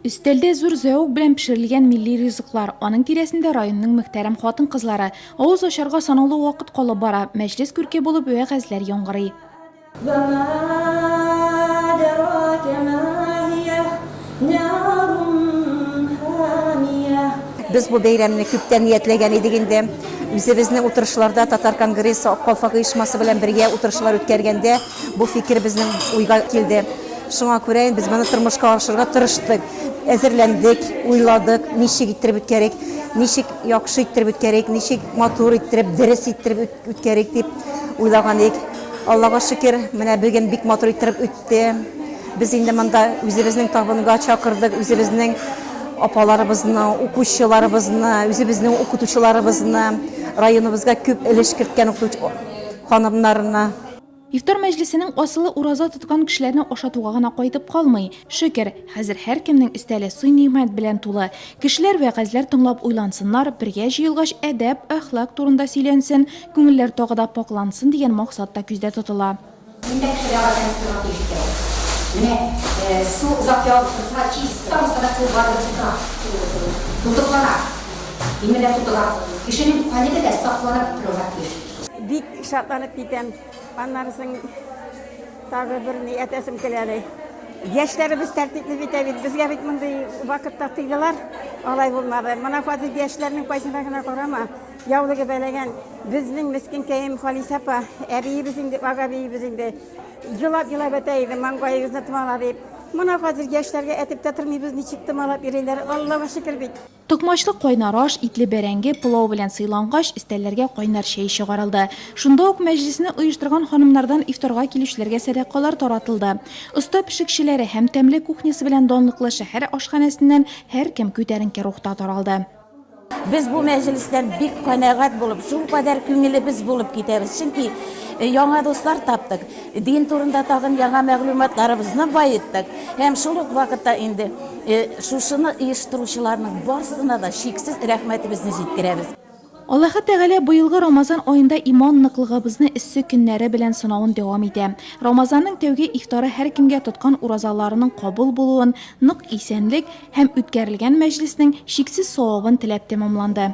Өстәлдә зур зәвык белән пешерелгән милли ризыклар, аның тирәсендә районның мөхтәрәм хатын-кызлары. Авыз ачарга санаулы вакыт калып бара, мәҗлес күрке булып вәгазьләр яңгырый. Без бу бәйрәмне күптән ниятләгән идек инде. Үзебезнең утырышларда Татар конгрессы Ак калфак оешмасы белән бергә утырышлар үткәргәндә, Бу фикер безнең уйга килде. Шуңа күрә без моны тормышка ашырырга тырыштык. Әзерләндек, уйладык, ничек иттереп үткәрик, ничек яхшы иттереп үткәрик, ничек матур иттереп, дөрес иттереп үткәрик дип уйлаган идек. Аллага шөкер, менә бүген бик матур иттереп үтте. Без инде монда үзебезнең табынга чакырдык, үзебезнең апаларыбызны, укучыларыбызны, үзебезнең укытучыларыбызны, районыбызга күп өлеш керткән укытучы ханымнарны. Ифтар мәҗлесенең асылы ураза тоткан кешеләрне ашатуга гына кайтып калмый. Шөкер, хәзер һәркемнең өстәле сый-нигъмәт белән тулы. Кешеләр вәгазьләр тыңлап уйлансыннар, бергә җыелгач әдәп, әхлак турында сөйләнсен, күңелләр тагы да пакълансын дигән максат та күздә тотыла. Инде кешеләр гадәт итүгә күчте. Менә су озак ягып торса, чист, тагын да су барып тота. Тутыклана. Имеля тутыга. Кешенең кайнеде дә сакланып торырга тиеш. Бик шатланып китәм. Аннары соң тагы бер ни әтәсем килә әле. Яшьләребез тәртипле бит ә бит. Безгә бит мондый вакытта тыйдылар. Алай булмады. Менә хәзер яшьләрнең кайсына гына карама, яулыгы бәләгән. Безнең мескенкәем Халисә апа, әбиебез инде, агабиебез инде. Елап-елап әтә иде, маңгаегызны томала дип. Менә хәзер яшьләргә әтеп тә тормыйбыз, ничек томалап йөриләр. Аллага шөкер бит. Токмачлы кайнар аш, итле бәрәңге, пылау белән сыйлангач, өстәлләргә кайнар чәй чыгарылды. Шунда ук мәҗлесне оештырган ханымнардан ифтарга килүчеләргә сәдакалар таратылды. Оста пешекчеләре һәм тәмле кухнясы белән данлыклы шәһәр ашханәсеннән һәркем күтәренке рухта таралды. Без бу мәҗлестән бик канәгать булып, шулкадәр күңелебез булып китәбез, чөнки яңа дуслар таптык, дин турында тагын яңа мәгълүматларыбызны баеттык һәм шул ук вакытта инде Шушыны оештыручыларның барсына да чиксез рәхмәтебезне җиткерәбез. Аллаһы Тәгалә быелгы Рамазан аенда иман ныклыгыбызны эссе көннәре белән сынавын дәвам итә. Рамазанның тәүге ифтары һәркемгә тоткан уразаларының кабул булуын, нык исәнлек һәм үткәрелгән мәҗлеснең чиксез савабын теләп тәмамланды.